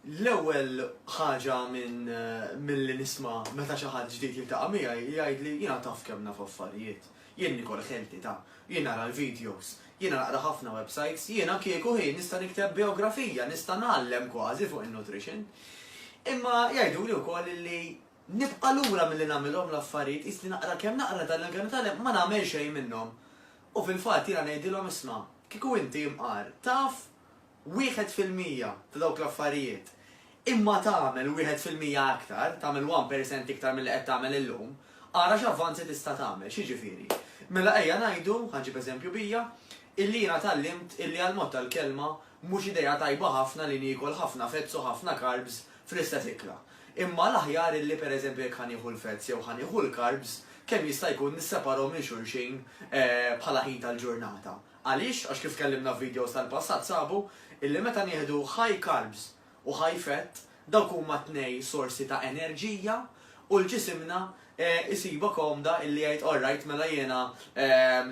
L-ewwel ħaġa minn eh, milli nisma' meta xi ħadd ġdid jiltaqa' miegħi jgħid li jiena taf kemm naf affarijiet. Jien nikol ħelti ta' jien nara l-videos, jien naqra ħafna websites, jiena kieku ħin nista' nikteb biografija, nista' nagħallem kważi fuq in-nutrition. Imma jgħidu li wkoll li Nibqa' lura milli nagħmilhom l-affarijiet, qis li naqra kemm naqra dan il-Għan u tgħallem ma nagħmel xejn minnhom. U fil-fatt jiena ngħidilhom isma', kieku inti, imqar, taf wieħed fil-mija ta' dawk l-affarijiet, imma tagħmel wieħed fil-mija aktar, tagħmel one percent iktar milli qed tagħmel illum, ara x'avvanzi tista' tagħmel. X'jiġifieri? Mela ejja ngħidu, ħa ġġib eżempju bija, illi jiena tgħallimt illi għall-mod tal-kelma mhux idea tajba ħafna li niekol ħafna fats u ħafna carbs fl-istess ikla. Imma l-aħjar illi pereżempju jekk ħa nieħu l-fats jew ħa nieħu l-carbs, kemm jista' jkun nisseparahom minn xulxin bħala ħin tal-ġurnata. Għaliex? Għax kif tkellimna f'videos tal-passat sabu illi meta nieħdu high carbs u high fat, dawk huma t-tnej sorsi ta' enerġija u l-ġisimna jsibha komda illi jgħid all right mela jiena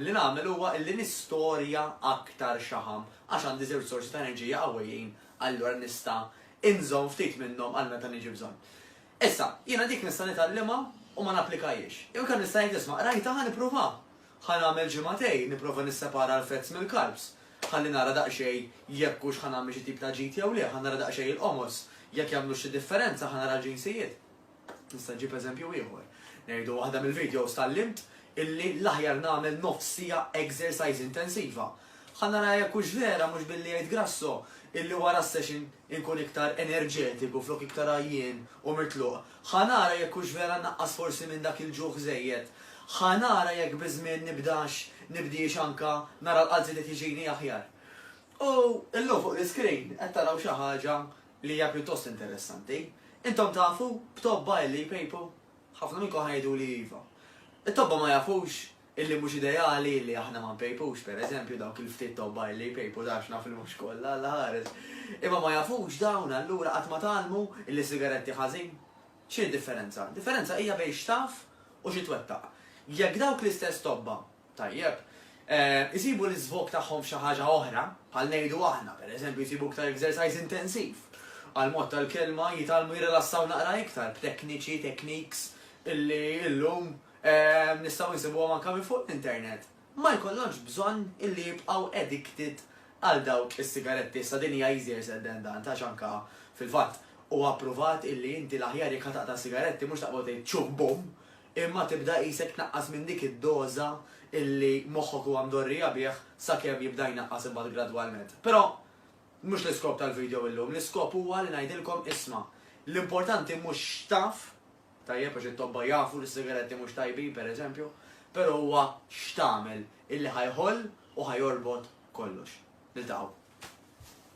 li nagħmel huwa illi nistorja aktar xaħam għax għandi żewġ sorsi ta' enerġija qawwijin allura nista' inżomm ftit minnhom għal meta niġi bżonn. Issa, jiena dik nista' nitgħallimha u ma napplikajhiex. Jew inkella nista' ngħid isma' qrajtha ħa nipprova. Ħa nagħmel ġimagħtejn nipprova nissepara l-fats mill-carbs. Ħalli nara daqsxejn jekk hux ħa nagħmel xi tip ta' ġid jew le, ħa nara daqsxejn il-qomos, jekk jagħmlux xi differenza, ħa nara l-ġinsijiet. Nista' ġib eżempju ieħor. Ngħidu waħda mill-videos tallimt illi l-aħjar nagħmel nofs siegħa exercise intensiva. Ħa nara jekk hux vera mhux billi jgħid Grasso illi wara s-session inkun iktar enerġetiku flok iktar għajjien u mitluq. Ħa nara jekk hux vera naqqas forsi minn dak il-ġuħ żejjed. Ħa nara jekk biż-żmien nibdax nibdiex anke nara l-qalb żiedet jiġini aħjar. U llum fuq l-iscreen qed taraw xi ħaġa li hija pjuttost interessanti. Intom tafu b'tobba illi jpejpu? Ħafna minnkom ħa jgħiduli iva. It-tobba ma jafux illi mhux ideali illi aħna ma npejpux, per eżempju, dawk il-ftit tobba illi jpejpu dax naf li mhux kollha, Alla ħares. Imma ma jafux dawn allura qatt ma tgħallmu illi sigaretti ħażin? X'inhi d-differenza? Differenza hija bejn x'taf u xi twettaq. Jekk dawk l-istess tobba Tajjeb. Isibu l-iżvog tagħhom f'xi ħaġa oħra, bħal ngħidu aħna, pereżempju jsibu iktar ekżercise intensiv. Għall-mod tal-kelma, jitgħallmu jirrilassaw naqra iktar b'tekniċi, techniques, illi illum nistgħu nsibuhom anke minn fuq l-internet. Ma jkollhomx bżonn illi jibqgħu addicted għal dawk is-sigaretti. Issa din hija easier said than done, għax anke, fil-fatt, huwa ppruvat illi inti l-aħjar jekk ħa taqta' s-sigaretti mhux taqbad tgħid ċuh bum, imma tibda qisek tnaqqas minn dik id-doża illi moħħok huwa mdorrija bih sakemm jibda jnaqqas imbagħad gradwalment. Però mhux l-iskop tal-video illum, l-iskop huwa li ngħidilkom isma', l-importanti mhux x'taf, tajjeb għax it-tobba jafu li s-sigaretti mhux tajbin pereżempju, però huwa x'tagħmel illi ħa jħoll u ħa jorbot kollox. Niltaqgħu.